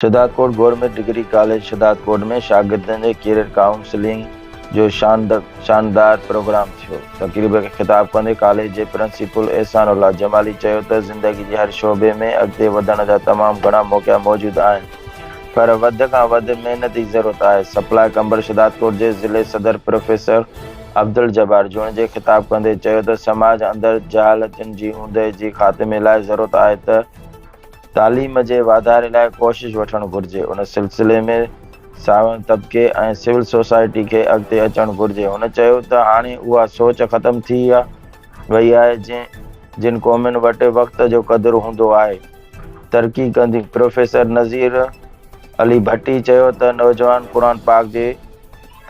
Shahdadkot government degree college Shahdadkot ۾ شاگردن جي career counselling جو شاندار پروگرام ٿيو. تقريب کي خطاب ڪندي ڪاليج جي پرنسپل احسان الله جمالي چيو ته زندگي جي ھر شعبي ۾ اڳتي وڌڻ جا تمام گھڻا موقعا موجود آھن پر وڌ کان وڌ محنت جي ضرورت آھي. سپلائي قمبر شھدادڪوٽ جي ضلعي صدر پروفيسر عبدالجبار جوڻيجي خطاب ڪندي چيو ته سماج اندر جھالتن جي اوندهه جي خاتمي لاء ضرورت آھي ته تعليم جي واڌاري لاء ڪوشش وٺڻ گهرجي، ان سلسلي ۾ ساوڻ طبقي ۽ سول سوسائٽي کي اڳتي اچڻ گهرجي. هن چيو ته هاڻي اها سوچ ختم ٿي وئي آهي جنهن جن قومن وٽ وقت جو قدر هوندو آهي ترقي ڪنديون. پروفيسر نظير علي ڀٽي چيو ته نوجوان قرآن پاڪ جي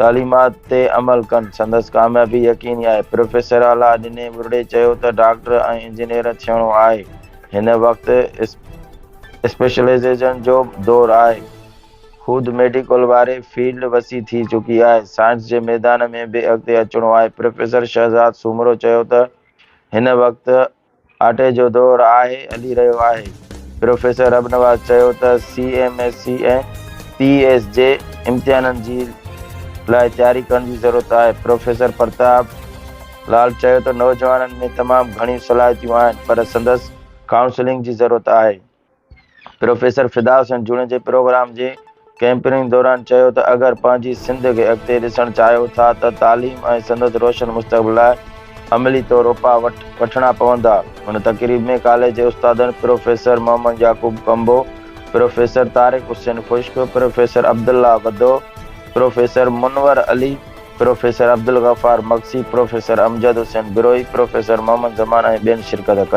تعليمات تي عمل ڪن سندس ڪاميابي يقيني آهي. پروفيسراعليٰ ڏني ٻرڙي چيو ته ڊاڪٽر ۽ انجنيئر ٿيڻو آهي. هن وقت اسپيشلائيزيشن جو دور آهي. خود ميڊيڪل واري فيلڊ وسيع ٿي چڪي آهي. سائنس جي ميدان ۾ به اڳتي اچڻو آهي. پروفيسر شهزاد سومرو چيو ته هن وقت آٽي جو دور آهي هلي رهيو آهي. پروفيسر ربنواز چيو ته C M S C ۽ P S جي امتحانن جي لاء تياري ڪرڻ جي ضرورت آهي. پروفيسر پرتاب. لال چيو ته نوجوانن ۾ تمام گهڻيون صلاحيتيون آهن پر سندس ڪائونسلنگ جي ضرورت آهي. پروفيسر فدا حسين جوڻيجي پروگرام جي ڪئمپنگ دوران چيو ته اگر پنهنجي سنڌ کي اڳتي ڏسڻ چاهيو ٿا ته تعليم ۽ سندس روشن مستقبل لاء عملي طور اپاء وٺڻا پوندا. هن تقريب ۾ ڪاليج جي استادن professor Muhammad Yaqoob Kumbho, professor Tariq Hussain Khushk, professor Abdullah Wadho, professor Munawar Ali, professor Abdulghaffar Magsi, professor Amjad Hussain Brohi, professor Muhammad Zaman ۽ ٻين شرڪت ڪئي.